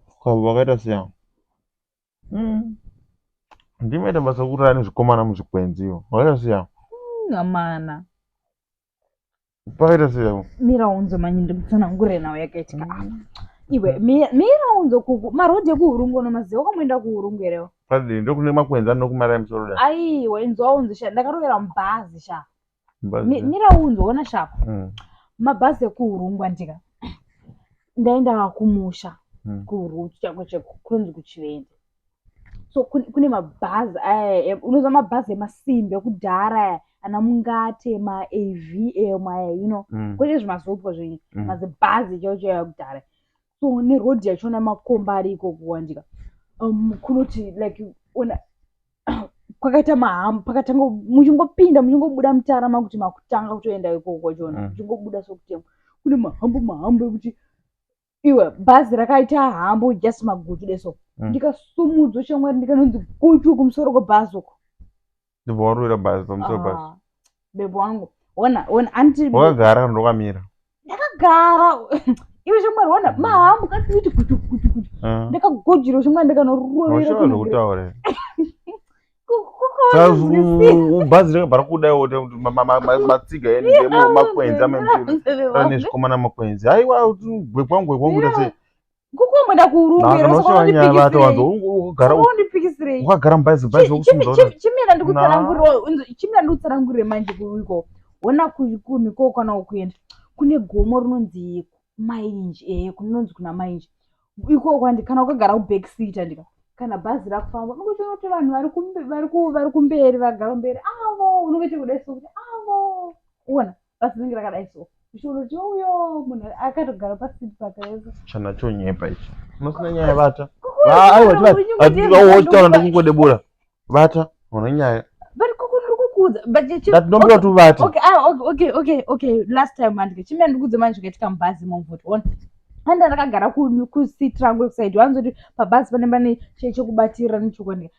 Saka vakaita sei avo? Mm. Ndimi maita basa kurara nezvikomana muzvikwenzi ivo. Vakaita sei avo? Mm, amana. Pakaita sei avo? Mira unzo manyi ndikutsanangure nawo yakaitika. Mm. Iwe mira unzo kuku marodhi ekuhurungu no maziwa kwamuenda kuhurungu erewo. Padii ndokune makwenzi anokumarai musoro dai. Aiwa inzwa unzo sha ndakarovera mubhazi sha. Mi- mira unzwe ona shako Mm. mabhazi ekuurungwa ndika ndaenda kumusha Mm. kurutu chako cheko kunonzi kuchivende so kun- kune mabhazi aya em- unoziva mabhazi emasimbi ekudhara aya ana mungate maavm aya you know Mm. kwete zvimazopwa zvenyu Mm. mazibhazi chao chao ekudhara so neroad yachona makomba ari ikoko wandika um, kunoti like ona kwakaita mahamu pakatanga muchingopinda muchingobuda mutara makuti makutanga kutoenda ikoko kwachona mm. muchingobuda mm. sokutemwa kune mahambo mahambo ekuti iwe bhazi rakaita hambo just magutu deso mm. ndikasumudzwa shamwari ndikanonzi gutu kumusoro kwebhazi uko ndibva warwira bhazi pamusoro bhazi ah, bebo wangu ona ona anti wakagara kana ndokamira ndakagara iwe zvimwari ona mm. mahambo katiiti kuti kuti kuti eh. ndakagojira zvimwari ndikanorovera bhazi rakabva rakudaiwo matsiga emakwenzi amene zvikomana makwenzi haiwa gwekwangu gwekwangu ta sei kukumbwenda kuurunguukagara mubhaizibhaizchimira ndikutsanangurire manje kuiko ona kumi ko kana ukuenda kune gomo rinonzi mainji ee eh, kunonzi kuna mainji ikoko kwandi kana ukagara kuback seat andika kana bhazi rakufamba unokuita kuti vanhu vari kumberi vagara mberi avo unokuita kudai sokuti avo uona basi rinenge rakadai so zvichiona kuti uyo munhu akatogara pasiti pakaiso chana chonyepa ichi unosina nyaya vata aiwataura ndokungodebura vata une nyaya ndatinombira kuti uvate last time andike chimene ndikudze manje zvakaitika mubhazi momvoti one anda ndakagara kusiti rangu ekusaidi wanzoti pabhazi pane pane chekubatirira nechokwandika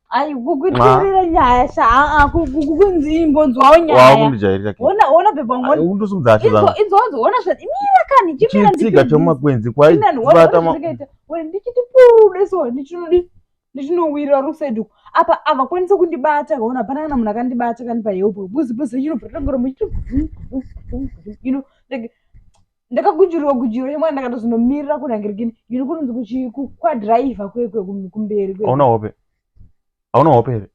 Ai kukutirira nyaya sha a kukunzi imbonzwawo nyaya. Wakundijairira kii. Ona ona bhebha ngoni. Undosimudza hati zangu. Idzo idzo ona sha imira kani chimira ndiki. Chitsika chomakwenzi kwai vata ma. Wena ndichiti pude so ndichinodi ndichinowira rusedu. Apa ava kwanisa kundibata kaona hapana kana munhu akandibata kani pa help. Buzi buzi chino putangoro muchiti. You know like ndakagujurirwa gujiro yemwana ndakatozonomirira kunangirigini yini kunonzi kuchi- ku- kwadhiraivha kwekwe kum- kumberi kwe hauna hope hauna hope here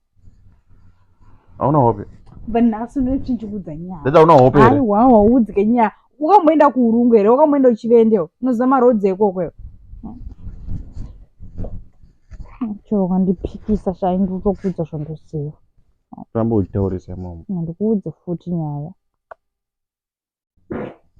hauna hope but nhasi unochinjikudza nyaya ndati hauna hope here aiwa waudzike nyaya wakamboenda kuurungu here wakamboenda uchivendewo unoziva marodzi ekoko iwe chero ukandipikisa shai ndikutokuudza zvandoziva ramba uchitaurisa imomo ndikuudze futi nyaya